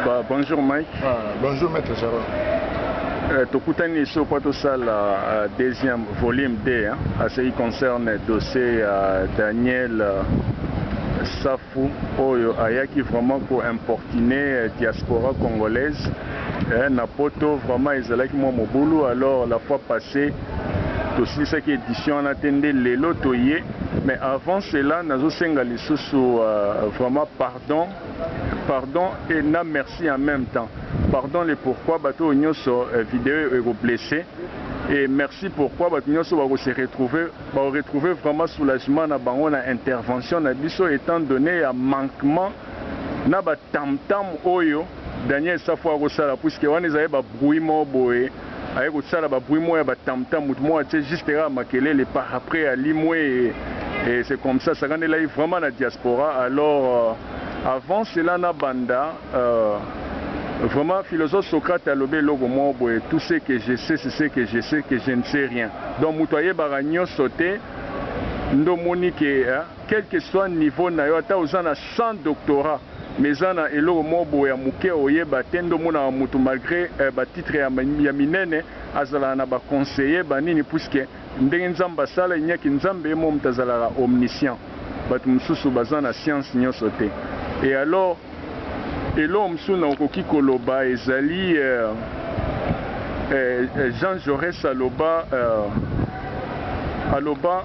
Ba, bonjour Mike. Ah, bonjour Maître Gerard. Euh, tokutani lisusu mpo tosala euh, deuxième volume 2 hein, à ce qui concerne dossier ya euh, Daniel euh, Safu oyo ayaki vraiment ko importuner euh, diaspora congolaise eh, na poto vraiment ezalaki mwa mobulu alors la fois passée tosilisaki édition wana te nde lelo toye mais avant cela nazosenga lisusu euh, vraiment pardon Pardon et na merci en meme temps. Pardon le pourquoi batu oyo nyoso video oyo eko blesse et merci pourquoi batu nyoso oyo bako se retrouver bako retrouver vraiment soulagement na bango na intervention na biso etant donne ya manquement na ba tam tam oyo Daniel Safu ako sala puisque wana ezali ba bruit moko boye aye kosala ba bruit moya ba tam tam mutu moya atie juste kaka makelele par après alimwee et c'est comme ça sakanela ye vraiment na diaspora alors euh, avant cela na banda euh, Vraiment, philosophe Socrate a lobé logo boye tout ce que je sais, c'est ce que je sais que je ne sais rien. Donc, mutu ayebaka nyoso te, ndo moni que, hein, quel que soit niveau na yo, ata oza na 100 doctorat, Mais eza na eloko moko boye ya muke oyeba te nde omonaka mutu malgre ba titre ya minene azalaka na ba conseiller ba nini puisque ndenge nzambe asala ye niaki nzambe ye moko mutu azalaka omniscient batu mususu baza na science nionso te et alors eloko mususu na okoki koloba ezali eh Jean Jaures aloba eh aloba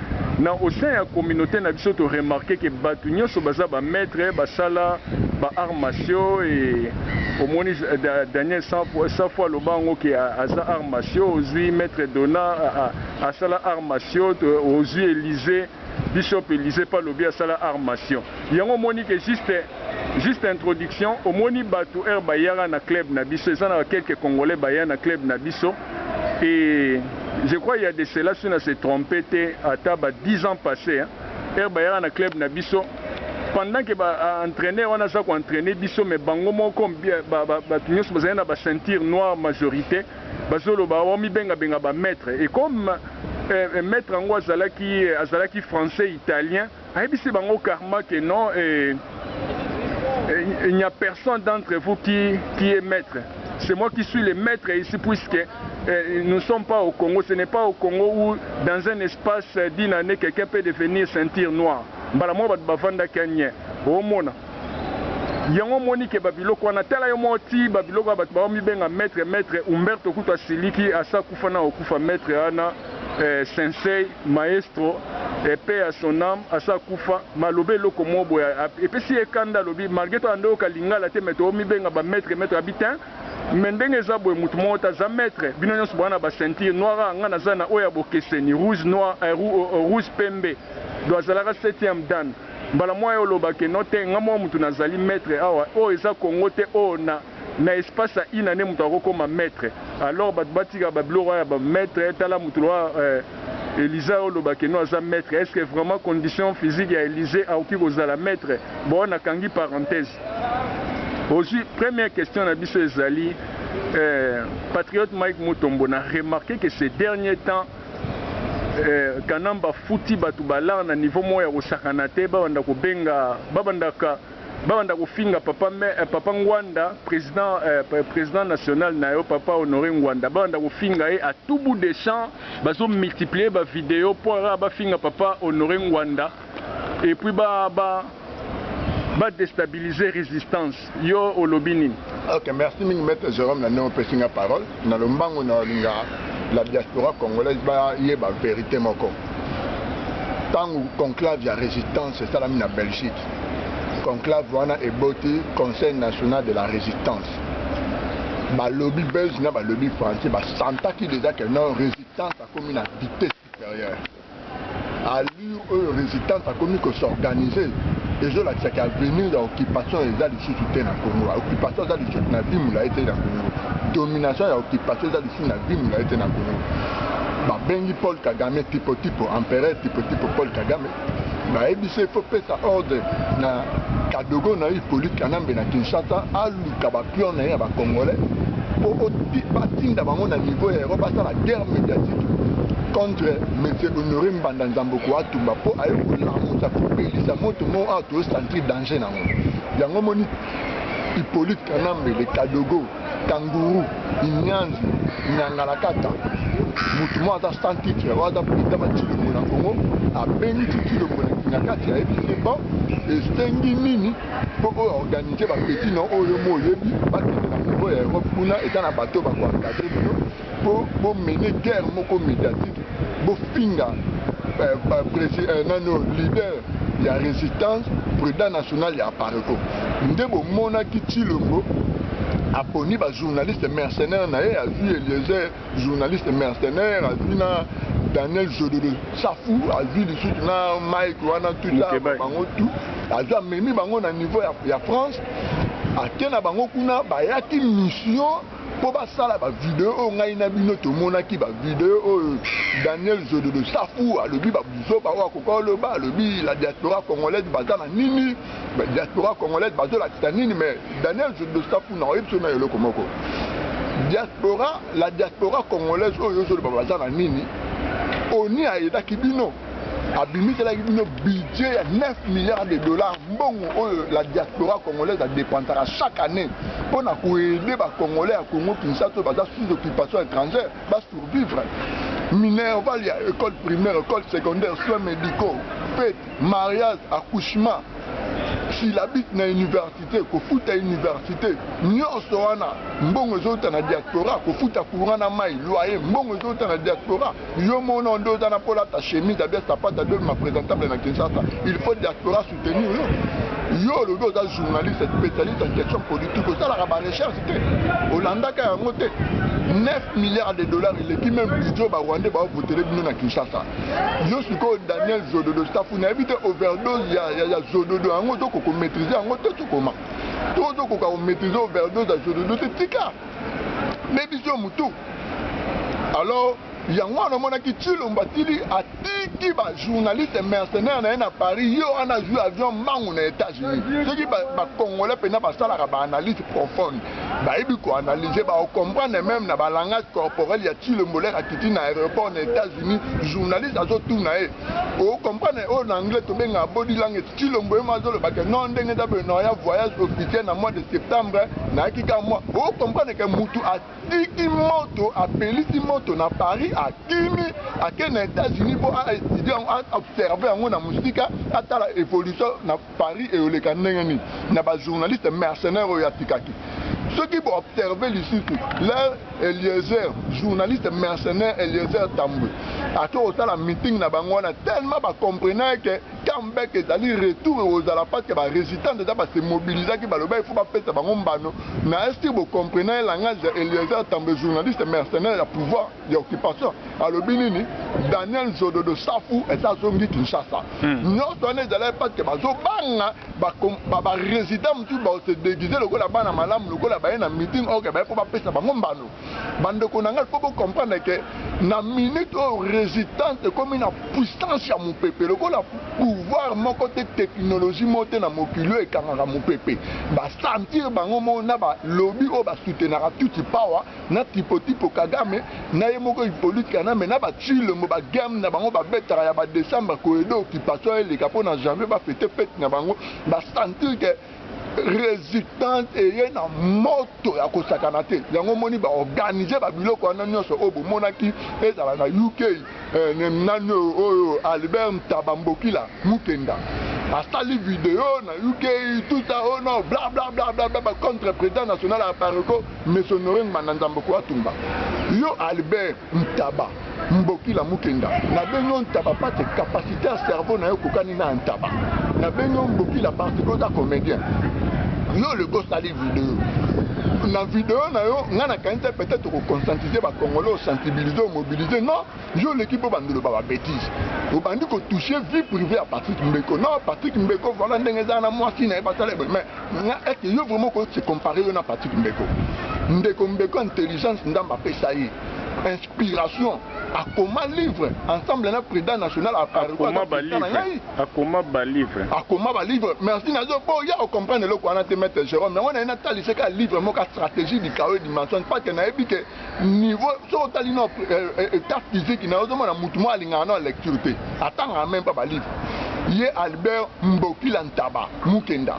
Na au sein ya communaute na biso to remarquer que batu nionso baza ba maitres ba sala ba arts martiaux et omoni Daniel safu aloba yango que aza arts martiaux ozui maitre Dona asala arts martiaux ozui Elise bishop Elise pe alobi asala arts martiaux yango omoni que juste juste introduction omoni batu heure bayaka na club na biso eza na quelques congolais baya na club na biso Et je crois il ya de cela si na se trompe te ata ba 10 ans passe hein heure bayaka na club na biso pendant que ba entraineur wana aza ko entrainer biso mais bango moko batu nionso bazali na ba ceinture noire majorite bazoloba omibenga benga ba maitre et comme maitre yango azalaki azalaki français italien Ayebisi bango carrement que non eh, eh, il n'y a personne d'entre vous qui, qui est maître. C'est moi qui suis le maître ici puisque eh, nous ne sommes pas au Congo. Ce n'est pas au Congo où dans un espace d'une année quelqu'un peut devenir ceinture noire. mbala moko bato bafandaki anye omona yango omoni ke babiloko wana tala yo moko ti babiloko ya bato baomibenga maître maître umberto kutu asiliki asa kufa na okufa maître wana Eh, sensei maestro epe ya son âme asa kufa maloba eloko moko boye epesi ye kanda alobi malgré to ando yoka lingala te mais tomibenga ba maître maître abi te mais ndenge eza boye motu moko te aza maître bino nyonso boza na ba ceinture noir a nga naza na oyo ya bokeseni rouge noir eh, eh, eh, rouge pembe do azalaka 7e dan mbala moya oloba ke no te nga moko motu nazali maître awa oyo eza kongo te oyo na na espace ya une annee mutu ako koma maitre alors batu ba tika ba biloko wana ya ba maitre tala mutu lokola eh, Eliza yo loba que no aza maitre est ce que vraiment condition physique ya Elise akoki ko zala maitre bon na kangi parenthèse ozui première question na biso ezali eh, patriote Mike Mutombo na remarquer que ces derniers temps eh, Kanamba futi batu balar na niveau moko ya kosakana te babanda kobenga babandaka babanda kofinga papa me, eh, papa Ngwanda president eh, president national na yo papa Honore Ngwanda babanda kofinga ye à tout bout des champs bazo multiplier ba video mpo kaka bafinga papa Honore Ngwanda et puis ba ba ba déstabiliser résistance yo olobi nini? Ok, merci mingi maître Jérôme na ndenge opesi nga parole na lombango na olinga la diaspora congolaise bayeba verité moko ntango conclave ya resistance esalami na belgique conclave wana eboti conseil national de la résistance balobi belge na balobi français basantaki déjà que non résistance akomi na vitesse supérieure allure oyo résistance akomi kosorganiser ezolakisaka avenir ya occupation eza lisusu te na congo occupation eza lisusu na vie molai te na congo domination ya occupation eza Merci na dimi na ete na Congo. Babengi Paul Kagame tipo tipo, empereur tipo tipo Paul Kagame. Bayebisi faut pesa ordre na Kadogo na Hippolyte Kanambe na Kinshasa aluka ba pion na ye ya ba Congolais po batinda bango na niveau ya Europe basala guerre médiatique contre monsieur Honoré Mbanda Nzambo Koatumba po aye kolamusa kopelisa moto mo ato sentir danger na yango yango moni Hippolyte Kanambe le Kadogo kanguru inyanzi nyangalakata motu moko aza sans titre oyo aza président batilongo na congo abengi titilongo na kati ya ebisi ye bon esengi nini mpo oyo organise bapeti na oyo mo oyebi bakende na niveau ya europe kuna eza na bato bakoencadre bino po bo mener guerre moko mediatique bo finga euh, ba président euh, nano leader ya résistance président national ya Apareco nde bo monaki Tshilombo aponi ba journaliste mercenaire na ye azwi Eliezer journaliste mercenaire azwi na Daniel Zodolo Safu azwi lisusu na Mike wana tout ça bango tout azwi amemi bango na niveau ya, ya France ake na bango kuna bayaki mission po basala ba video oyo ngai na bino tomonaki ba video oyo Daniel Zololo Safu alobi ba buzoba oyo akoka oloba alobi la diaspora congolaise baza na nini ba diaspora congolaise bazolakisa nini mais Daniel Zololo Safu na oyebisa na eloko moko diaspora la diaspora congolaise oyo ozoloba baza na nini oni ayedaki bino abimiselaki bino budget ya 9 milliards de dollars mbongo oyo la diaspora congolaise adepensaka chaque année mpo na koede bacongolais ya congo kinshasa oyo baza sous occupation étrangère basurvivre minerval ya école primaire école secondaire soins médicaux fete mariage accouchement silabite na université kofuta université nyonso wana mbongo ezouta na diaspora kofuta courant na mai loyer mbongo ezouta na diaspora Yo mono nde oza na mpo olata chemise abia sapata nde ma presentable na Kinshasa. Il faut diaspora soutenir yo. Yo olobi oza journaliste spécialiste en question politique osalaka ba recherche te. Olandaka yango te. 9 milliards de dollars eleki même budget ba Rwandais ba voter bino na Kinshasa. Yo sikoyo Daniel Zododo staff na yebi te overdose ya, ya, ya Zododo yango ozo ko maîtriser yango te tokoma. To ozo ko maîtriser overdose ya Zododo te tika. ne biso mutu alors yango wana omonaki tshilombo atili atiki bajournaliste mercenaire na ye na paris ye wana azwi avion mbangu na états-unis soki bacongolais ba mpenza basalaka baanalyse profonde bayebi koanalyse baocomprendre meme na balangage corporel ya tshilombo lere akiti na aéroport na états-unis journaliste azotuna ye o comprendre oyo na anglais tobengaka body language cilombo ye mwa azoloba ke non ndenge eza boye naoya voyage officiel na mois de septembre nayaki kaka mwa o comprendre ke mutu atiki moto apelisi moto na paris akimi ake na états-unis mpo aestudia yango aobserve yango na mosika atala évolution na Paris eyoleka ndenge nini na ba journaliste mercenaire oyo atikaki soki bo observe lisusu leur Eliezer journaliste mercenaire Eliezer Tambwe ato kosala meeting na bango wana tellement ba comprenaki ke comeback ezali retour ekozala parce que ba resistants deja ba se mobilisaki baloba il faut bapesa bango mbano na estir bo comprenaki langage ya Eliezer Tambwe journaliste mercenaire ya pouvoir ya occupation alobi nini daniel zododo safu eza azongi kinshasa hmm. nyonso wana ezalaki parceke bazobanga baresident mosusu baose deguise lokola bana malamu lokola baye na meeting oke baye mpo bapesa bango mbano bandeko na ngai fo bocomprendre ke na minute oyo résistance ekomi na puissance ya mopepe lokola pouvoir moko te technologie moko te na mokili oyo ekangaka mopepe basentir bango moko na balobi oyo basoutenaka tuti power na tipo tipo kagame na ye moko hypolite kanambe na batshilombo bagame na bango babetaka ya badecembre koyede occupation eleka mpo na janvier bafete fete na bango basentir ke resistance eye na moto ya kosakana te yango omoni baorganize babiloko wana nyonso oyo bomonaki ezala na uk Eh ne nani oyo oyo Albert Ntaba Mbokila Mukenda asali video na UK tout ça oh non bla bla bla bla bla ba contre président national ya Apareco Monsieur Honore Ngbanda Nzamboko Atumba yo Albert Ntaba Mbokila Mukenda na bengi yo Ntaba pate capacité ya cerveau na yo kokani na Ntaba na bengi yo Mbokila parce que oza comédien yo le gosali video na video na yo ngai nakanisa peut-être okoconscientise bacongolais osensibilise omobilise non yo oleki mpo bandolo ba babetise obandi kotouche vie privé ya patrick mbeko non patrick mbeko voilà ndenge ezala na mwasi na ye basala ebe mais nga ete yo vraiment okoki se compare yo na patrick mbeko ndeko mbeko intelligence nzambe apesa ye inspiration akoma livre ensemble na président national akoma balivre akoma balivre merci nazo boya ocomprendre eloko wana te maître jérôme yango naye natalise kaka livre moko stratégie du chaos dimension pake nayebi ke niveau soki otali no euh, euh, état physique nayo ozomona motu moko alingaka no lecture te atangaka meme pa balivre ye albert mbokila ntaba mukenda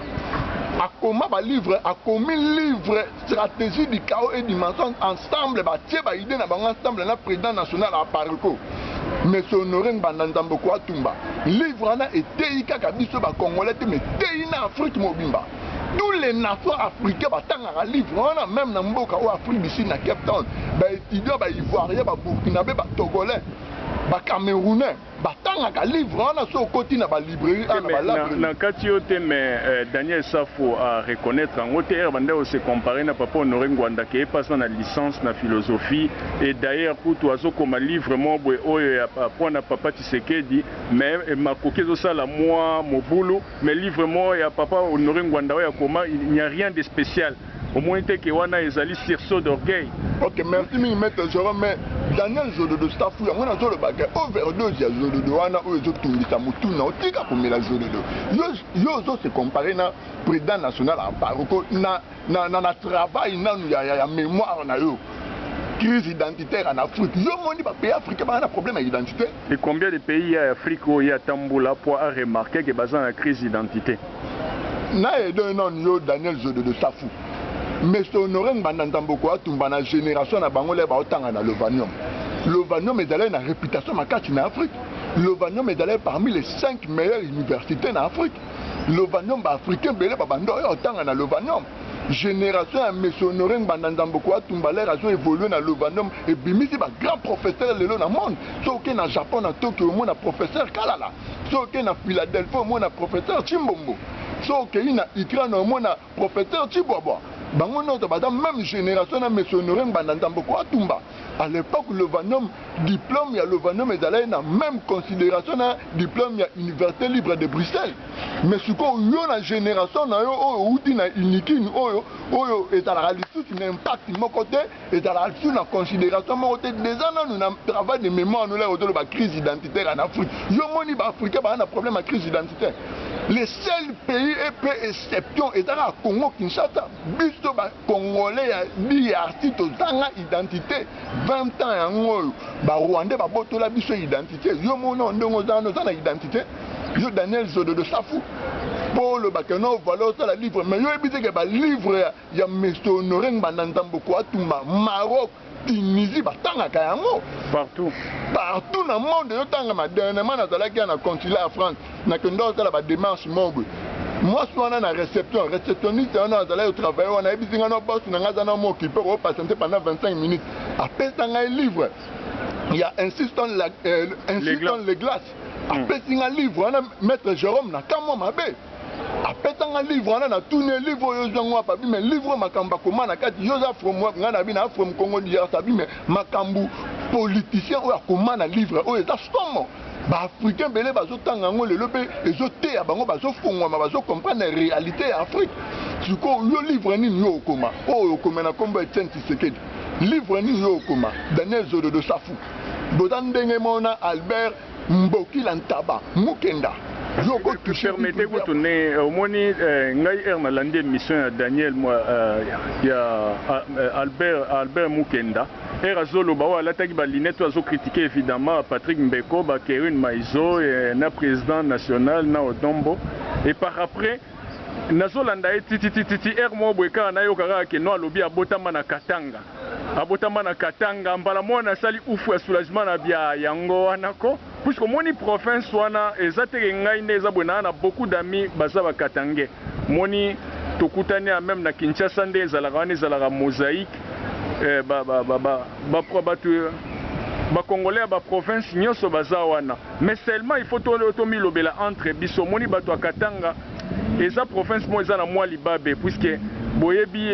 akoma balivre akomi livre strategie du chaos et du mensonge ensemble batie ba idee na bango ensemble na president national apareco monsieur honore ngbanda nzamboko atumba livre wana eteyi kaka biso ba congolais te mais eteyi na afrique mobimba tous les nations africains batangaka livre wana meme na mboka oyo afrique du sud na cape town ba étudiant ba ivoirien ba burkinabé ba togolais ba camerounais batangaka livre wana soki okoti na balibrairie ana balabre na kati yo te mais euh, daniel safo a reconnaître yango te ere bandai ose compare na papa honore ngwanda ke epasa na licence na philosophie et d'ailleurs kutu azokoma livre moko boye oyo ya mpo na papa tshisekedi mais eh, makoki ezosala mwa mobulu mais livre moko ya papa honore ngwanda oyo akoma il n'y a rien de spécial Omoni te ke wana ezali sursaut d'orgueil? Ok, merci mingi Maître Jérôme, mais Daniel Zododo staff ou yango nazo loba ke overdose ya Zododo wana oyo ezo tungisa mutu na otika komela Zododo. Yo yo ozo se comparer na président national Amparuko na na na, na travail nanu ya, ya, ya mémoire na yo. Crise identitaire en Afrique. Yo moni ba pays africains ba na problème ya identité? Et combien de pays ya Afrique oyo ye atambula po a remarquer ke baza na crise d'identité? na edo ye nanu yo daniel zodo de safu mr honore ngbanda nzamboko atumba na generation na bango le baotanga na lovanium lovanium ezalai na reputation makasi na afrique lovanium ezalai parmi les 5 meilleures universités na afrique lovanium baafricain bele babanda oyo otanga na lovanium génération ya monsieur honore ngbanda nzamboko atumba lere azo évolue na lovanium ebimisi bagrand professeur lelo na monde soki oke na japon na tokyo omona professeur kalala so okei na philadelphie omona professeur chimbombo so okei na ukraine omona professeur chibwabwa bango nyonso baza meme génération na monsieur honore ngbanda nzambo ko atumba à l'époque lovanom diplôme ya lovanom ezalaki na meme considération na diplôme ya université libre de bruxelles mais sikoyo yo na génération na yo oyo outi na unikin oyo oyo ezalaka lisusu na impact moko te ezala sur na consideration moko te deja nanu na travail de mémoire nola ozoloba crise identitaire en afrique yo omoni ba africain baa na problème ya crise identitaire le seul pays epe exception eza kaka congo kinshasa biso ba congolais ya drc tozanga identité 20 ans yango oyo ba rwandais babotola biso identité yo mona ndenge oza wana oza na identité yo daniel zododo safu mpo olobaka no valeur osala livre mais yo oyebi te ke balivre ya Monsieur Honore Ngbanda Nzamboko Atumba Maroc Tunisie batangaka yango partout partout na monde ezo tangama dernièrement nazalaki ya na consulat ya France nakenda kosala ba démarche moko boye mwasi wana na reception receptionniste wana azalaki kotravaille wana ayebisi ngai no bosi na ngai aza na mo okipe okopatiente pendant 25 minutes apesa ngai livre ya insiston euh, le glace apesi nga livre wana maître jérôme na kamwa mabe apesa nga livre wana natuni ye livre oyo ozwi yango wapi abi me livre oyo makambo akoma na kati yo oza from wapi ngai nabi na from congo drc abi me makambo politicien oyo akoma na livre oyo eza somo baafricain bele bazotanga yango lelo mpe ezoteya bango bazofongwama bazokomprendre réalité ya afrique sikoyo yo livre nini yo okoma oyo okoma na nkombo ya etienne tisekedi livre nini yo okoma daniel zododo safu boza ndenge moko na albert mbokila ntaba mukenda permete kutu ndenge eh, omoni eh, ngai heure nalandi émission ya daniel eh, ya albert albert mukenda heure azoloba oyo alataki balinete oyo azokritike évidemment patrick mbeko bakerune maizo na président national na odombo et par après nazolanda ye tititititi heure moko boye kaka nayoka kaka keno alobi abotama na katanga Abotama na Katanga mbala moya na sali ouff ya soulagement na bya yango wana ko puisque omoni province wana eza te ke ngai nde eza boye naa na beaucoup d'amis baza ba katangais omoni tokutani ya meme na Kinshasa nde ezalaka wana ezalaka mosaique eh ba ba ba ba ba ba ba ba congolais ya ba province nioso baza wana Mais seulement il faut to milobela entre biso omoni batu ya Katanga eza province moko eza na mua libabe puisque boyebi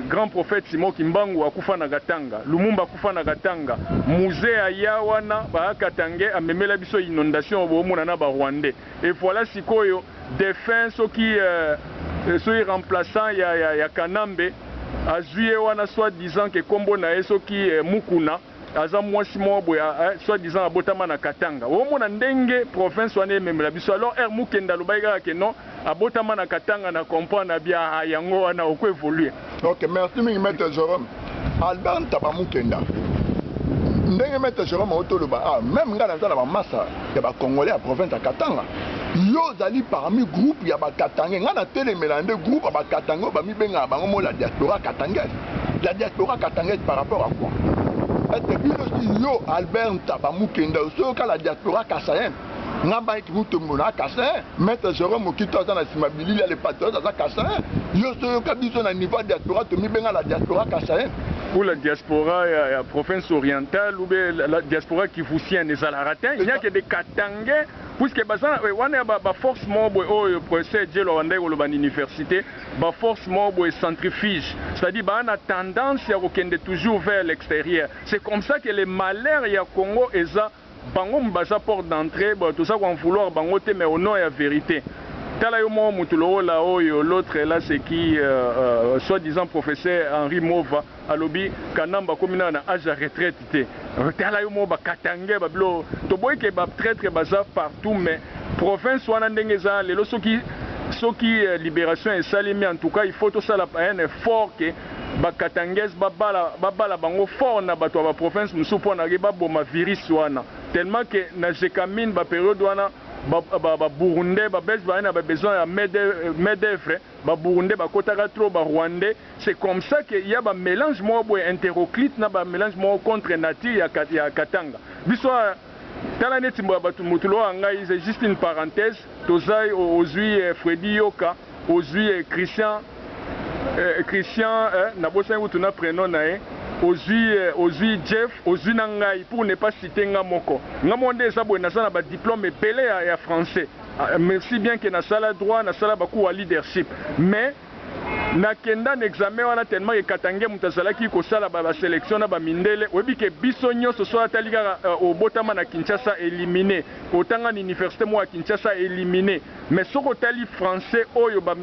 grand prophète Simon Kimbangu akufa na Katanga, Lumumba akufa na Katanga, Muze aya wana ba Katangais amemela biso inondation bo mona na ba Rwandais et voila sikoyo defunt soki soki remplaçant ya Kanambe azui ye wana soit disant que kombo na ye soki Mukuna. aza mwasi moko boye eh, soit disant abotama na Katanga. Omona ndenge province wana ememela biso. Alors er mukenda alobaki kaka ke non abotama na Katanga na comprendre na bia ah, yango wana oko evoluer. Ok, merci mingi maître Jerome. Albert Ntaba Mukenda. Ndenge maître Jerome otoloba ah, même nga naza na ba massa ya ba congolais ya province ya Katanga. Yo ozali parmi groupe ya ba Katangais. Nga na telemela nde groupe ya ba Katangais oyo bamibengaka bango mola diaspora Katangais. la diaspora katangais par rapport à quoi ete bino ti yo albert ntaba mukenda osoyoka la diaspora kasayen nga mike mutombo na kasayen maître jérôme mokito aza na nsima bilili ya le patriote aza kasayen yo soyoka biso na niveau ya diaspora tomibenga la diaspora kasayen pour la diaspora ya, ya province orientale ou bien la, la diaspora kivusienne ezalaka te il n'y a que des katangais puisque baza eh, wana ya baforce ba moko boye oyo professeur jelo awandaki koloba na université ba force moko boye centrifuge c'est à dire ba na tendance ya kokende toujours vers l'exterieur c'est comme ça que le malheur ya Congo eza bango baza porte d'entree bon toza ko en vouloir bango te mais au nom ya verite tala yo moko mutu lokola oyo l'autre là c'est qui soit disant professeur Henri Mova Alobi kanambe akomi nana na age ya retraite te tala yo moko ba katangais ba bilo toboyi ke ba traitre baza partout mais province wana ndenge eza lelo soki soki liberation esalemi en tout cas il faut tosala un effort ke ba katangais ba bala ba bala bango fort na batu ya ba province mosusu pona ke ba boma virus wana tellement ke na gecamine ba periode wana ba ba burundais ba belge bazali na ba besoin ya main d'oeuvre ba burundais ba kotaka trop ba rwandais C'est comme ça que ya ba melange moko boye interoclite na ba melange moko contre nature ya ya katanga biso awa tala neti mboya batu mutu lokola ngai c'est juste une parenthèse toza ozui Freddy Yoka ozui Christian eh, Christian eh, nabosani kutu na prenom na ye ozui eh, ozui Jeff ozui na ngai pour ne pas citer nga moko nga moko nde eza boye naza na ba diplôme ebele ya, ya français ah, merci bien que nasala droit nasala ba cours ya leadership mais Na kenda na examen wana tellement que katangais mutu azalaki ko sala ba ba selection na ba mindele, oyebi que biso nionso soit atali kaka obotama na Kinshasa elimine, otanga na universite moko ya Kinshasa elimine. Mais soki otali français oyo ba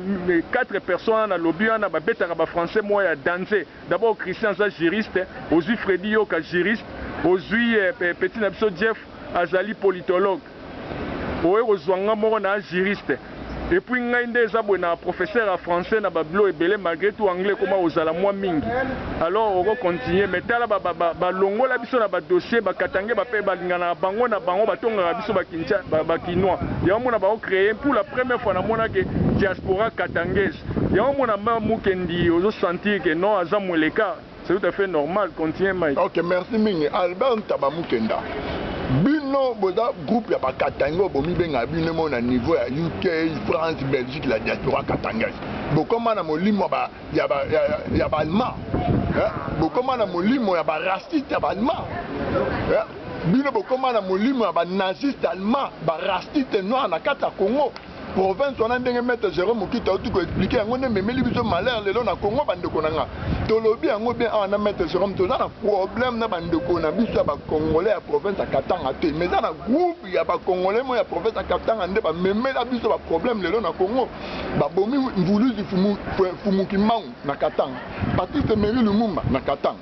quatre personnes wana na lobi wana ba betaka ba français moko ya danze, d'abord Christian aza juriste, ozui Freddy Yoka juriste, ozui petit na biso Jeff azali politologue. oye kozua nga moko na juriste et puis ngai nde eza boye na professeur ya français na ba bilo ebele malgre tout anglais ekoma kozala mua mingi alors oko continuer mais tala ba ba ba balongola biso na ba dossier ba katangais ba pe balinganaka bango na bango batongaka biso ba kincha ba, ba kinois yango mona bao creer pour la première fois na mona ke diaspora katangais yango mona mba mukendi ozo sentir ke non aza mweleka C'est tout à fait normal, continue Mike. Ok, merci mingi. Albert Ntaba Mukenda. Bino boza groupe ya ba Katanga oyo bomibenga bino mo na niveau ya UK, France, Belgique, la diaspora katangaise. Bokoma na molimo ba ya ba ya, ya ba Allemand. Eh? Bokoma na molimo ya ba raciste ya ba Allemand. Eh? Bino bokoma na molimo ya ba naziste allemand, ba raciste noir na kati ya Congo. Province wana ndenge maitre Jerome Mukita auti ko expliquer yango nde ememeli biso malheur lelo na Congo ba ndeko na nga. Tolobi yango bien awa na maitre Jerome toza na problème na ba ndeko na biso ya ba congolais ya province ya Katanga te mais eza na groupe ya ba congolais moko ya province ya Katanga nde ba memela biso ba problème lelo na Congo. Ba bomi Mvuluzi Fumu, Fumu Kimbangu na Katanga, Patrice Emery Lumumba na Katanga.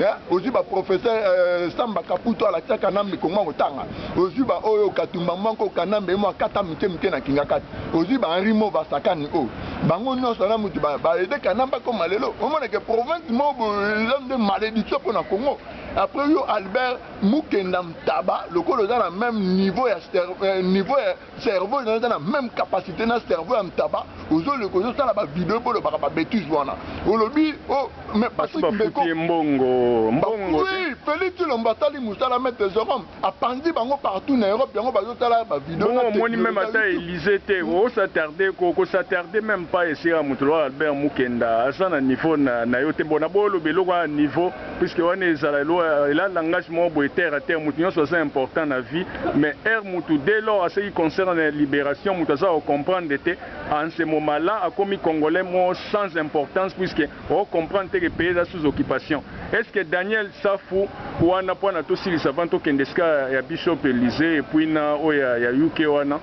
Eh, ozwi ba professeur euh, samba kaputo alakisa kanambe kongo akotanga ozwi ba oyo katumba mwanko kanambe emo akata mike mike na kingakati ozwi ba henri mo basakani oyo oh. bango nyonso na mutu baede kanambe akoma lelo omonake province mo eza nde malédiction mpo na congo après yo albert mukenda mtaba lokola oza na même niveau ya euh, niveau ya Cerveau nayo eza na meme capacite na cerveau ya ntaba ozo leka ozo sala ba video po olobaka ba betise wana olobi oh mais Patrick Mbeko mbongo mbongo oui Felix Tshilombo asali musala maitre Jerome apanzi bango partout na Europe yango bazo sala ba video na technologie moni meme ata Elysee te hmm. o s'attarder ko ko s'attarder meme pas esika mutu lokola Albert Mukenda aza na niveau na nayo te bona bo loba eloko ya niveau puisque wana ezala loi ela langage moko boye terre à terre mutu nyonso aza important na vie mais heure mutu dès lors aseki concernant na liberation mutu aza ko comprendre te Anselmo Mala akomi congolais mo sans importance puisque o comprendre te que pays eza sous occupation est ce que Daniel Safu wana pona tosilisa avant tokende esika ya bishop Elysee et puis na oyo ya, ya UK wana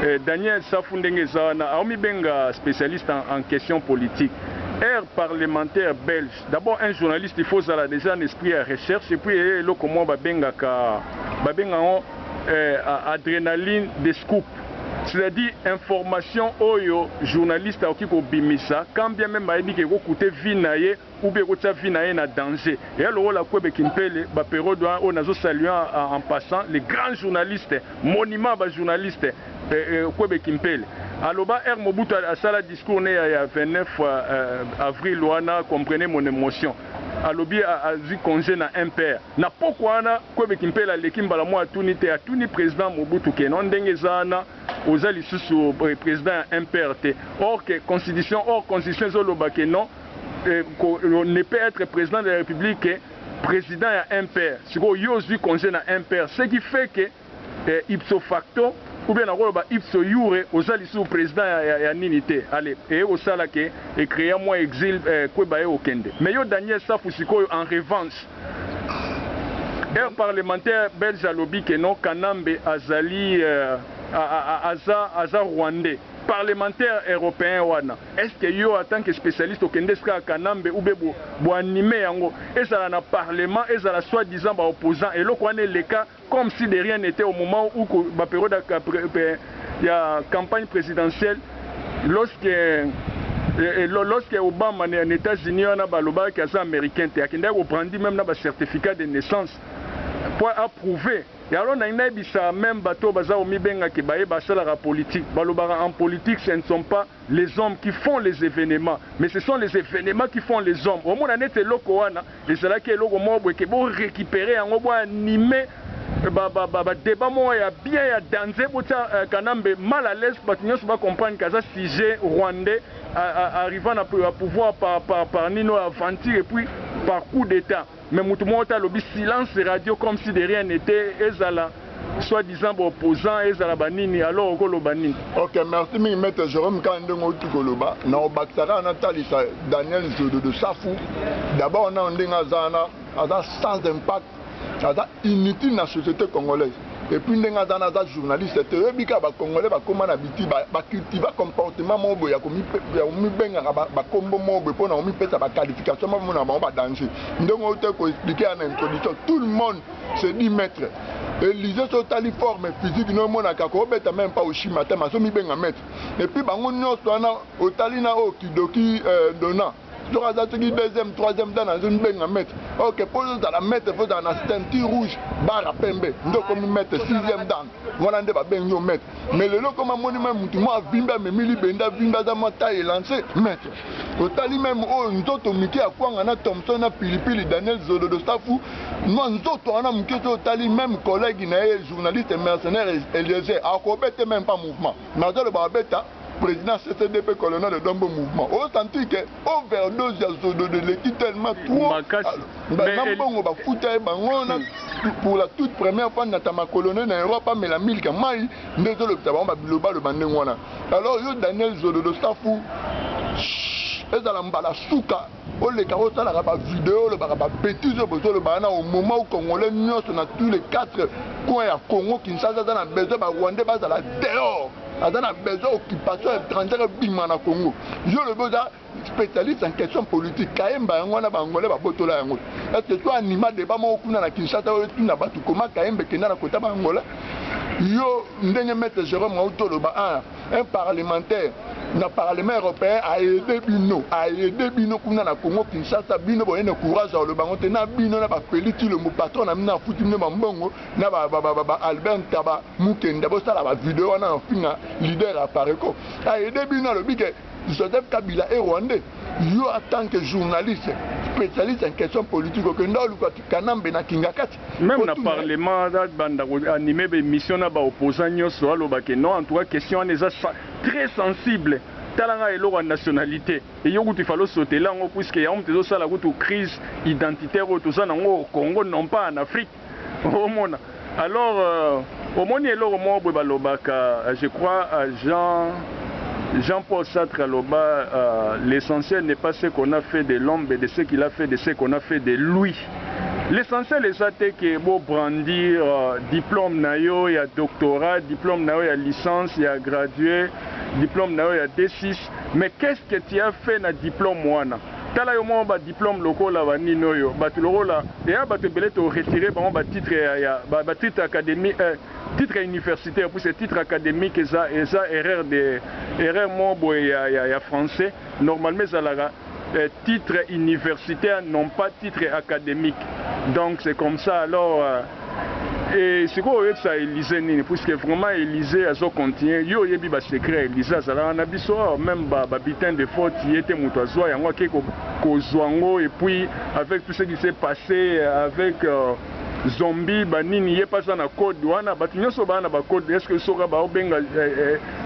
eh, Daniel Safu ndenge eza wana aomibenga spécialiste en, en question politique aire parlementaire belge D'abord un journaliste il faut ozala dejà na esprit ya recherche et puis eye eh, eloko mwa babengaka babenga yango eh, adrenaline de scoop c'est-à-dire information oyo journaliste akoki kobimisa quand bien même ayebi ke ekokute vie na ye ou bien ekotya vie na ye na danger eya lokola kwebe kimpele baperiode wana oyo nazosalue en passant le grand journaliste monument ya bajournaliste Eh, eh, kwebe kimpele aloba r mobutu asala discours ne ya, ya 29 uh, eh, avril wana comprenez mon émotion alobi azwi congé na mpr na pokwa wana kwebe kimpele aleki mbala mwa atuni te atuni président mobutu keno ndenge eza wana oza lisusu eh, président ya mpr te or que constitution or constitution ezoloba ke non eh, ne peut être président de la république président ya mpr sikoyo yo ozwi congé na mpr ce qui fait que eh, ipso facto ou bien nakoloba ipso iure oza lisusu president ya, ya, ya nini te ale eye kosala ke ecrea mwa exil eh, kweba ye okende me yo daniel safu sikoyo en revanche heure parlementaire belge alobi ke non kanambe azali euh, aza, aza rwandais parlementaire européen wana est ce que yo en tant que spécialiste okende sika kanambe ou be boanime yango ezala na parlement ezala soit disant baopposant eloko wana eleka Comme si de rien n'etait au moment ou que ba periode ya campagne presidentielle lorsque lorsque Obama na Etats Unis wana ba lobaka ke aza americain te akendaki ko brandi meme na ba certificat de naissance po a prouve et alors nalingi nayebisa meme bato oyo baza komibenga ke baye basalaka politique balobaka en politique ce ne sont pas les hommes qui font les evenements mais ce sont les evenements qui font les hommes omona neti eloko wana ezalaki eloko moko boye ke bo récupérer yango bo anime ba ba ba ba débat moko ya bien ya danze botia euh, kanambe mal à l'aise bato nyonso ba comprendre ke aza sujet rwandais arriva na pouvoir par, par, par nino aventure et puis par coup d'état Mais mutu moko te alobi silence radio comme si de rien n'etait ezala soit disant ba opposants ezala ba nini alors oko loba nini? Ok merci mingi maitre Jerome kaka ndenge owuti koloba nako bakisa kaka na talisa Daniel Zododo safu d'abord nanu ndenge aza wana aza sans impact aza inutile na societe congolaise. Epuis ndenge aza na aza journaliste te oyebi ka ba congolais ba koma na biti ba, ba cultiva comportement moko boye ya komibengaka ba, ba kombo moko boye pona komipesa ba qualification ba mona bango ba danger ndenge oyo te ko expliquer ya na introduction tout le monde se dit maître Elise so otali forme physique no emonaka ko obeta meme pas oshima te mais azo mibenga maître epuis bango nionso wana otali na oyo kidoki euh, dona soki aza soki deuxième troisième dan azo mibenga maître ok mpo ozala maître fo ozala na ceinture rouge bara pembe nde okomi maître sixième dan wana nde babengi yo maître mais lelo okomi amoni mai motu mwa avimbi amemi libende avimbi aza mwa taille elance maître otali meme oyo nzoto mike ya kwanga na thomson na pilipili daniel zolodo safu mwa nzoto wana moke soki otali meme collègue na ye journaliste mercenaire eliezer akobete meme pas mouvement nazoloba abeta President CCDP Colonel Dombo Mouvement o sentir que overdose ya zododo eleki tellement trop makasi mais na mbongo bafuta ye bango na pour la toute première fois na tamakolone na Europe amela milk ya mai nde ezolobisa bango ba bilobaloba ndenge wana alors yo Daniel zododo safu ezala mbala suka oleka osalaka ba video olobaka ba betises oyo bozoloba wana au moment où congolais nyonso na tous les quatre coins ya congo kinshasa aza na besoin ba rwandais bazala dehors aza na besoin occupation étrangère ebima na congo yo olobi oza spécialiste en question politique kayemba yango wana baangolais babotola yango est ce que to anima débat moko kuna na kinshasa oyo tuna bato koma kayemba ekenda na kota baangolais yo ndenge maître jérôme auti oloba un parlementaire na parlement européen a aide bino a aide bino kuna na Congo Kinshasa bino boye na courage ya koloba yango te na bino na ba Feli Tshilombo patron na bino afuti bino ba mbongo na ba, ba, ba, ba, ba Albert Ntaba Mukenda bosala ba video wana na finga leader ya Pareco a aide bino alobi ke Joseph Kabila est rwandais yo en tant que journaliste spécialiste en question politique okenda oluka Kanambe na Kingakati Meme na parlement aza banda ko anime ba emission na ba opposants nioso aloba ke non en tout cas question wana eza très sensible tala nga eloko ya nationalite eyo kutu il fallait osotela yango puisque yango mutu ezo sala kutu crise identitaire oyo toza nango au Congo non pas en Afrique omona alors euh, omoni eloko moko boye balobaka je crois à Jean Jean Paul Sartre aloba euh, l'essentiel n'est pas ce qu'on a fait de l'homme mais de ce qu'il a fait de ce qu'on a fait de lui L'essentiel eza te que bo brandir diplome na yo ya doctorat, diplome na yo ya licence, ya gradue, diplome na yo ya D-six, mais qu'est ce que tu as fait na diplome wana? Tala yo moko ba diplomes lokola ba nini oyo, batu lokola, ea batu ebele to retirer bango ba titres ya, ya, ba, ba titres academiques, eh, titre ya universitaire, puisque titre academique eza, eza erreur de, erreur moko boye ya, ya, ya français, normalement ezalaka titre universitaire non pas titre academique donc c'est comme ça alors et sikoyo oyebisa Elysee nini puisque vraiment Elysee azo continuer yo oyebi ba secret ya Elysee azalaka na biso awa meme ba ba butin de faute ye te mutu azua yango ake kozua yango et puis avec tout ce qui s'est passe avec zombie ba nini ye pe aza na code wana batu nionso baa na ba code est ce que soki baobenga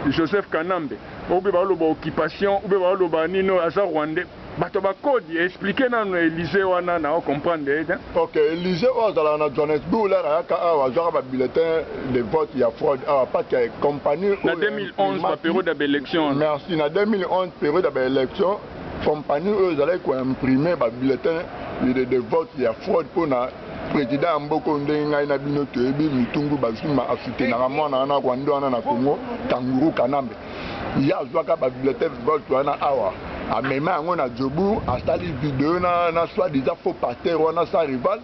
Joseph Kanambe ou bien baloba occupation ou bien baloba nino aza rwandais bato ba code expliquer nano Elysee wana na comprendre ye te. Ok Elysee oyo azalaka na Johannesburg là ayaka awa azwaka ba bulletins de vote ya fraude awa parce que compagnie oyo na 2011 ba periode ya ba elections wana merci na 2011 periode ya ba elections Compagnie oyo ezalaki ko imprimer ba bulletins de, de vote ya fraude mpo na president ya mboka oyo ndenge ngai na bino toyebi Mutungu Bazuma asoutenaka mwana wana Rwanda wana na Congo Kanguru Kanambe ye azwaka ba bulletins de vote wana awa amema yango na Jobourg asali video na, na soit disant faux pasteur wana sa rival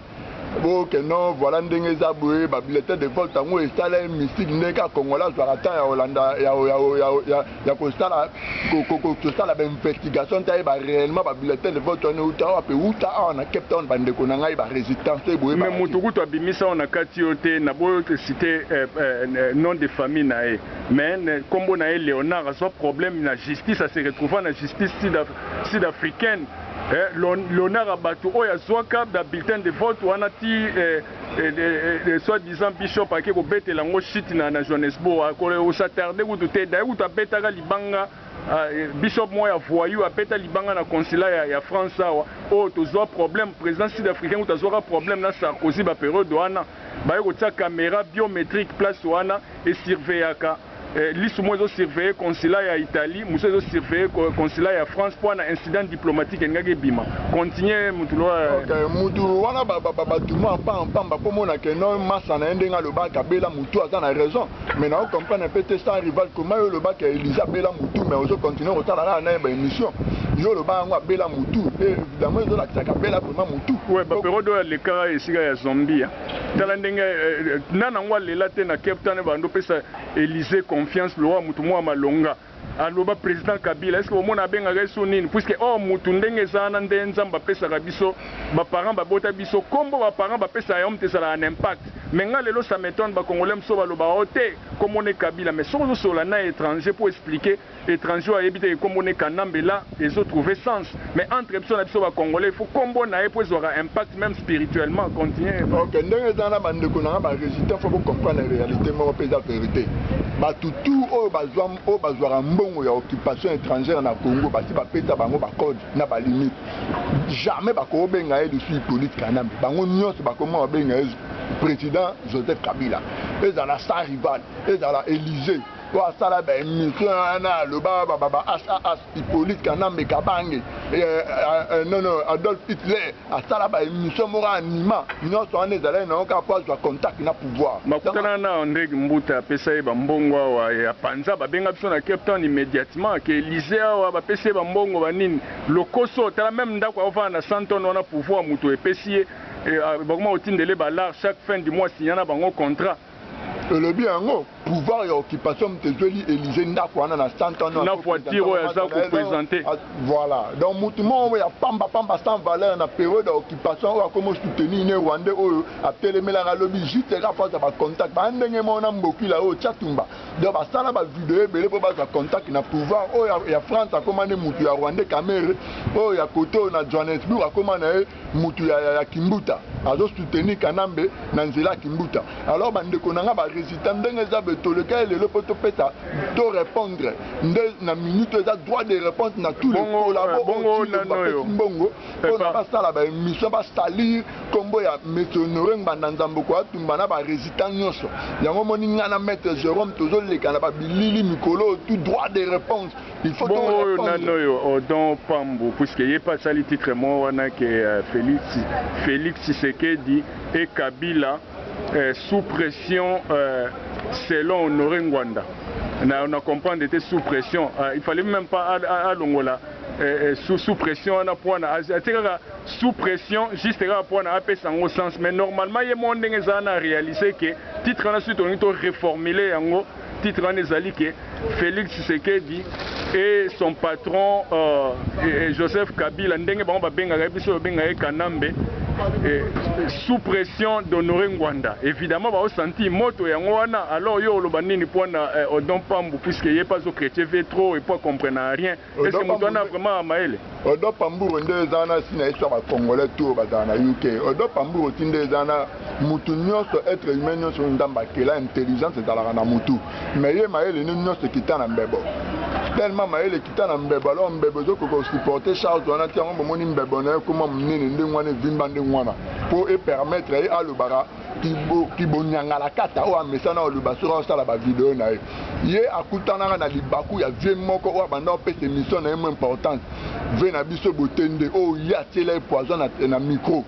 boke non voilà ndenge eza boye ba bulletin de vote yango esala ye mystique ndenge kaka congolais azwaka temps ya kolanda ya kosala kosala bainvestigation nte ayeba réellement ba bulletin de vote wana euta wapi euta awa na cape town bandeko na ngai ba résistance to eboye mais moto kutu abimisa wana kati yo te na bo cité eh, eh, nom de famille na ye mais nkombo na ye léonard azwa problème na justice ase retrouva na justice sud africaine eh, l'honneur à bato oyo azwaka ba bulletin de vote wana ti eh, eh, eh, eh, soit disant bishop ake kobetela yango shit na, na johannesbourg akosatarde kutu te daye kutu abetaka libanga ah, eh, bishop moko ya voyou abeta libanga na consulat ya, ya france awa oyo oh, tozwa problème président sud africain kutu azwaka problème na sarkozy baperiode wana baye kotia caméra biométrique place wana esurveillaka Eh, lisu moko ezo surveiller consulat ya Italie, mosusu ezo surveiller consulat ya France mpo na incident diplomatique elingaki ebima. Continue mutu loa. Eh. Okay, mutu wana batuma mpa mpamba mpo mona ke no masa na ye ndenge aloba kabela mutu aza na raison mais nao comprendre mpe te sans rival koma yo olobaka elise abela mutu mais ozo continue kotala kaka naye ba émission yo oloba yango abela mutu eh, évidemment ezolakisa kabela vraimen mutu. Ouais, baperodo alekaka esika ya zombie. Tala ndenge na nango alela te na Cape Town ebando pesa Elysee confiance lokola mutu mua malonga aloba president Kabila est-ce que bomona abengaka ye sur nini puisque or mutu ndenge eza wana nde Nzambe apesaka biso ba parents babota biso kombo ba parents bapesa ya homme ezalaka na impact mais nga lelo ça m'etonne ba congolais mosusu balobaka oh te kombo nde Kabila mais soki ozosolola na etranger pour expliquer Etranger oyo ayebi te ke kombo ne Kanambe la ezo trouver sens mais entre biso na biso ba congolais il faut kombo naye po ezwaka impact meme spirituellement continue. Ok ndenge eza na ba ndeko na nga ba resistants faut bo comprendre realite moko pe eza verite batu tout oyo bazwa oyo bazwaka mbongo ya occupation etrangère na Congo basi ba pesa bango ba code na ba limite jamais bako benga ye lisusu Hyppolite Kanambe bango nionso bako mona ba benga ye president Joseph Kabila ezala sans rival ezala Elysee po asala ba emission wana aloba baba ba HAH Hippolyte Kanambe Kabange eh, eh, eh, non non Adolf Hitler asala ba emission moko anima nyonso wana ezalaki nango kaka po azwa contact na pouvoir bakutana na Andre Mbuta apesa ye bambongo awa ya panza babenga biso na Cape Town immédiatement ke Elysee awa bapesi ye bambongo banini lokoso tala meme ndako aovana na Santon wana pouvoir moto epesi ye bakoma kotindele ba lar chaque fin du mois signana bango contrat Olobi yango pouvoir ya occupation moto ezweli Elysee ndako wana na 100 ans na voiture oyo aza ko presenter. Voilà. Donc moto moko ya pamba pamba sans valeur na periode ya occupation oyo akomo soutenir ne rwandais oyo atelemelaka lobi juste kaka po azwa ba contact. Ba ndenge moko na Mbokila oyo Tshatumba. Donc ba sala ba video ebele po bazwa contact na pouvoir oyo ya France akoma nde moto ya rwandais Kamerhe oyo ya kote oyo na Johannesburg akoma na ye mutu ya, ya, ya kimbuta azo soutenir kanambe na nzela ya kimbuta alors bandeko na nga ba resista ndenge eza be toleka ye lelo mpo topesa to repondre nde na minute eza droit de réponse na tous les collabo bapesi mbongo mpo na basala ba émission basalir nkombo ya monsieur honore ngbanda nzamboko atumba na ba resista nyonso yango omoni nga na maître jérôme tozoleka na babilili mikolo tout droit de réponse Bongo oyo nani oyo Odon Pambu puisque ye pe asali titre moko wana ke euh, Felix Felix Tshisekedi et Kabila euh, sous pression euh, selon Honore Ngwanda na, na comprendre te sous pression euh, il fallait même pas alongola euh, euh, sous, sous pression wana pwana atie kaka sous pression juste kaka pwana apesa yango sens mais normalement ye moko ndenge ezala na réaliser ke titre wana soki tolingi to reformuler yango titre wana ezali ke Felix Tshisekedi et son patron euh, et Joseph Kabila ndenge bango babengaka ye biso tobenga ye Kanambe et, sous pression d'Honoré Ngwanda évidemment bao senti moto yango wana alors yo oloba nini pona eh, Odon Pambu puisque ye pas au chrétien trop et pas comprendre rien Est-ce que moto wana vraiment mayele? Odo Pamburu nde eza wana si na histoire ba congolais tout bazala na UK. Odo Pamburu ti nde eza wana mutu nionso etre humain nionso oyo Nzambe akela intelligence ezalaka na mutu. Mais ye mayele ne nionso ekita na mbebo. Tellement mayele ekita na mbebo alors mbebo ezo koka ko supporter charge wana te yango bomoni mbebo na ye ekoma munene ndenge wana evimba ndenge wana po e permettre ye alobaka kibonyangalakata oyo amesana oluba soki aosala bavideo na ye ye akutanaka na libaku ya vie moko oyo abanda opesa emission na ye mo importante vie na biso botende oyo ye atiela ye poison na, na micro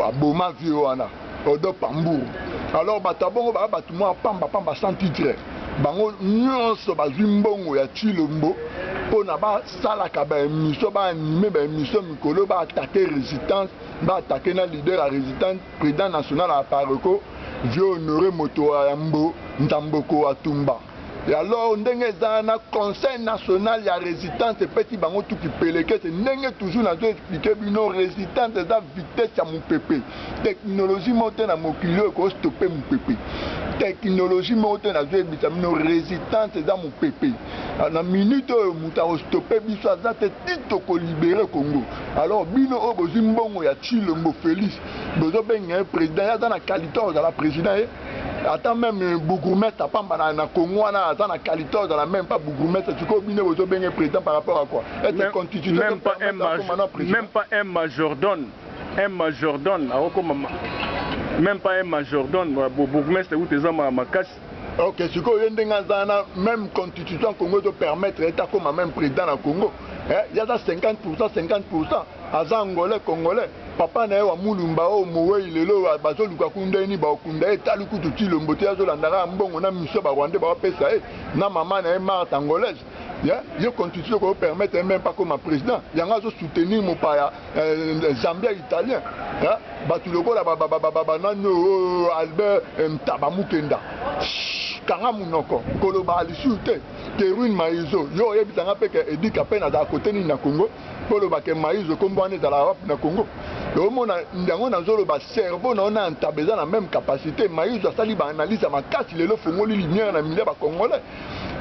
aboma vie wana odo pamburu alors bato ya bongo baya bato mwa pamba pamba sans titre bango nyonso bazwi mbongo ya chilombo mpo na basalaka baemission baanime baemission mikolo baatake resistance baatake na leader ya resistance President national ya Apareco, Vieux Honore moto wa yambo Ntamboko wa Tumba. Et alors ndenge eza wana, Conseil national ya resitance epesi bango tout kipelekese. Ndenge toujours nazo expliquer bino, resitance eza vitesse ya mupepe. Technologie moko te na mokili oyo eko stopper mupepe. Technologie moko te, nazo yebisa bino, resitance eza mupepe. Na minute oyo, moto ako stopper biso aza te, ti toko liberer Congo. Alors bino oyo bozwi mbongo ya Tshilombo Felix bozo benga ye president ye aza na qualité ozala president ye ata meme euh, bourgmestre apamba na, na Congo wana aza na qualité ozala meme pas bourgmestre sikoyo bino bozo benga president par rapport à quoi ete constitution même pas un major, même pas un majordome un majordome akokoma même pas un majordome bourgmestre kutu eza makasi Ok, sikoyo ye ndenge aza na même constitution Congo ezo permettre ye takoma même président na Congo eh, ye aza 50% 50% aza angolais congolais papa na ye wa mulumba oyo mowei lelo oyo bazoluka kunda ye ni baokunda ye tali kutu tilombo te azolandaka ya mbongo na miso barwandais baopesa ye na mama na ye marte angolaise ya ye constitution ko permettre même pas comme président yango azo soutenir mopaya euh, zambia italien ya bato lokola banani oyo albert euh, ntaba mukenda kanga monoko koloba lisusu te terwin maizo yo oyebisa nga mpe ke edika mpe nazala kote nini na congo mpo oloba ke maizo nkombo wana ezalaka wapi na congo omona yango nazoloba cerveau na yo na ntaba eza na meme capacité maizo asali baanalyse ya makasi lelo ofongoli lumière na milia bacongolais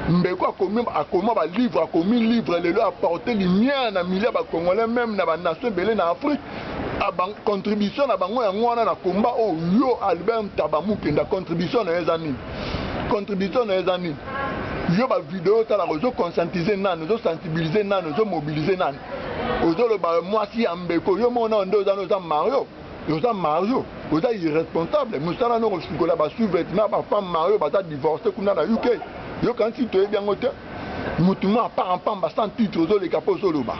Mbeko akomi akoma ba livre akomi livre lelo a porte lumière na milieu ya ba congolais meme na ba nation ebele na Afrique a ba contribution na bango yango wana na combat oyo yo Albert Ntaba Mukenda contribution na yo eza nini contribution na yo eza nini yo ba video otalaka ozo conscientiser nani ozo sensibiliser nani ozo mobiliser nani ozoloba mwasi ya mbeko yo moko nao nde oza na oza mario oza mario oza irresponsable mosala noko sukola ba sous-vêtement ba femme mario baza divorce kuna na uk yo kanisi toyebi yango te motu mo apart mpamba sans titre ozoleka mpo ozoloba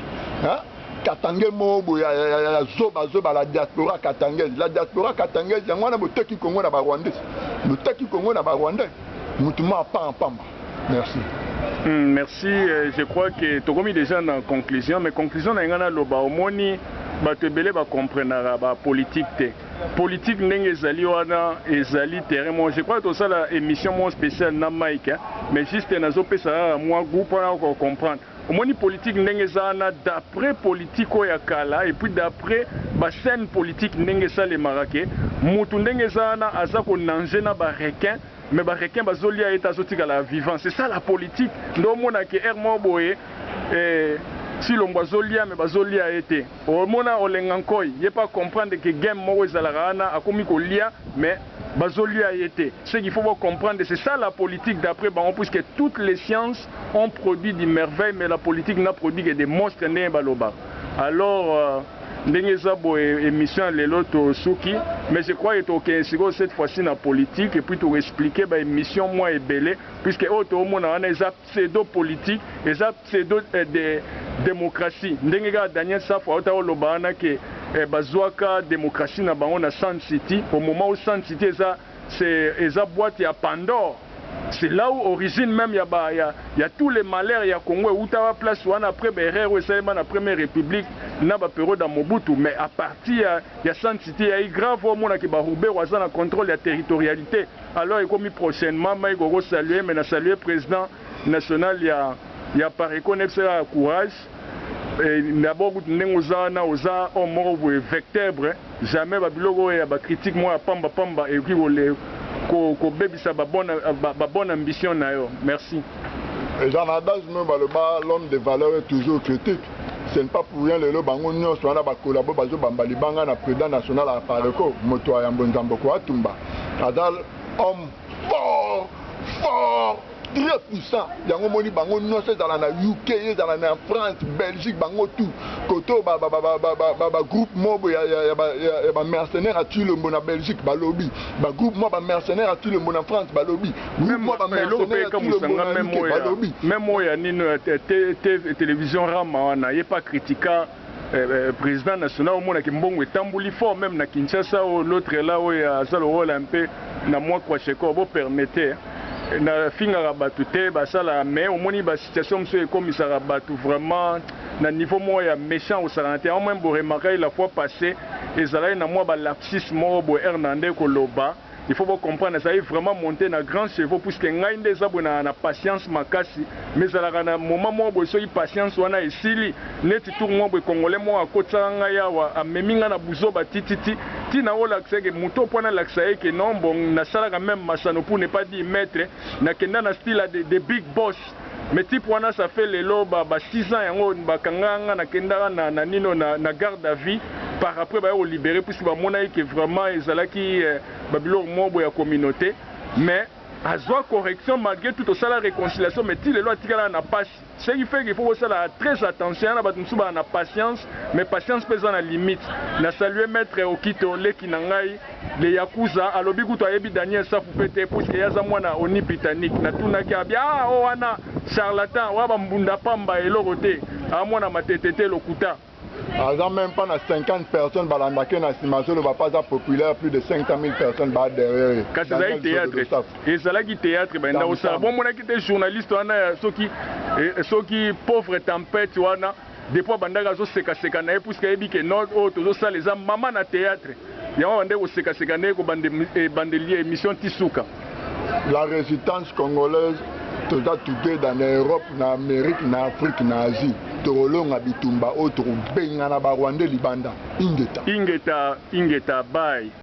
katange moo boye ya zoba zoba la diaspora katangaise la diaspora katangaise yango wana boteki kongo na barwandais boteki kongo na barwandais motu mo apart mpamba merci Hmm, merci. Euh, je crois que tokomi déjà na conclusion, mais conclusion na ngana loba omoni bato ebele bacomprenaka bapolitike te politike ndenge ezali wana ezali terrain mo je crois tosala émission mo spéciale na mike hein? mais juste nazopesa kaka mwa goût mpona kocomprendre omoni politike ndenge eza wana d'après politike oyo ya kala et puis d'après bascène politike ndenge esalemaka ke motu ndenge eza wana aza konange na barequin Mais ba requins bazo lia ye te azo tikala vivant c'est ça la politique nde omona ke heure moko boye eh, Tshilombo azo lia mais bazo lia ye te omona Olenga Nkoy ye pe a comprendre ke game moko ezalaka wana akomi ko lia mais bazo lia ye te ce qu'il faut bo comprendre c'est ça la politique d'après bango puisque toutes les sciences ont produit du merveille mais la politique n'a produit que des monstres ndenge ba lobaka alors. Ndenge eza boye emission ya lelo to suki mais je crois que to kende sikoyo cette fois ci na politique et puis to expliquer ba emission mwa ebele puisque oyo to mona wana eza pseudo politique eza pseudo eh, de democratie ndenge kaka Daniel Safu auta ko loba wana ke eh, bazuaka democratie na bango na Sun City au moment où Sun City eza ce eza boite ya pandore ce la ou origine meme ya ba ya ya tout le malheur ya congo ewutaka place wana apres ba erreur oyo esalema na premier republique na ba periode ya mobutu mais a parti ya ya sun city ya igrave omona ke ba ruberu aza na controle ya territorialite alors ekomi prochainement maiko ko saluer mais na saluer president national ya ya pareco na yebisa kaka courage Eh, d'abord kutu ndenge oza wana oza homme moko boye vectebre jamais ba biloko oyo ya ba critique moko ya pamba pamba ekoki kole ko kobebisa ba bonne ba, ba bonne ambition na yo merci eza na adage moko baloba l'homme de valeur est toujours critique ce n'est pas pour rien lelo bango nyonso wana ba collabo bazo bamba libanga na president national ya apareco moto ya yambo nzamboko atumba aza homme fort fort très puissant yango omoni bango nyonso ezala na uk ezala na france belgique bango tout kote oyo bagroupe mobo ya bamercenaire ya tulombo na belgique balobi bagroupe mwa bamercenaire ya tulombo na france balobi mwa bamercenaire ya tulombo na uk balobi meme oyo ya nino ya television rama wana ye pa critika eh, président national omona ke mbongo etamboli fort même na kinshasa oyo l'autre là oyo aza lokola mpe na mwa kwashekor bopermete eh, nafingaka bato te basala mais omoni basituation mosusu ekomisaka bato vraiment na niveau moko ya méchant kosakana te yango meme boremarkaki la fois passé ezalaki na mwa balapsis moko boye hernande koloba Il faut bo comprendre nazali vraiment monte na grand chevaux puisque ngai nde eza boye na patience makasi mais ezalaka na moment moko boye soki patience wana esili neti tour moko boye congolais moko akotisaka ngai awa amemi ngai na buzoba tititi ti na olakisa eke moto mpo nalakisa ye ke non bon nasalaka meme masano pour ne pas dire maitre nakenda na style ya de, de big boss Mais type wana ça fait lelo ba ba 6 ans yango ba kanga nga na kendaka na na nino na na garde à vie par après ba yoko libere puisque ba monaki que vraiment ezalaki eh, ba biloko mobo ya communaute mais azwa correction malgré tout osala réconciliation mais ti lelo atikala na pasi ce qui fait qu'il faut kosala très attention yana bato mosusu baa na patience mais patience mpe eza na limite na salue maître okito leki na ngai le yakuza alobi kutu ayebi Daniel safu pe te puisque ye aza mwana oni britannique na tunaki abi aa oyo wana charlatan oya ba mbunda pamba eloko te aa mwana matete te lokuta. Aza meme pas na 50 personnes balandaka ye na sima azoloba pe aza populaire plus de 500000 personnes baa derrière ye kasi ezalaki theatre ezalaki theatre benda kosala bomonaki te journaliste wana ya soki soki pauvre tempete wana depuis abandaki azo seka seka naye puisque ayebi ke nord oyo tozo sala eza maman na theatre yango abandaki ko seka seka naye ko bande ebandeli emission ti suka. La resitance congolaise toza together na Europe na Amerique na Afrique na Asie toko longa bitumba oyo toko bengana ba rwandais libanda ingeta. Ingeta ingeta bye.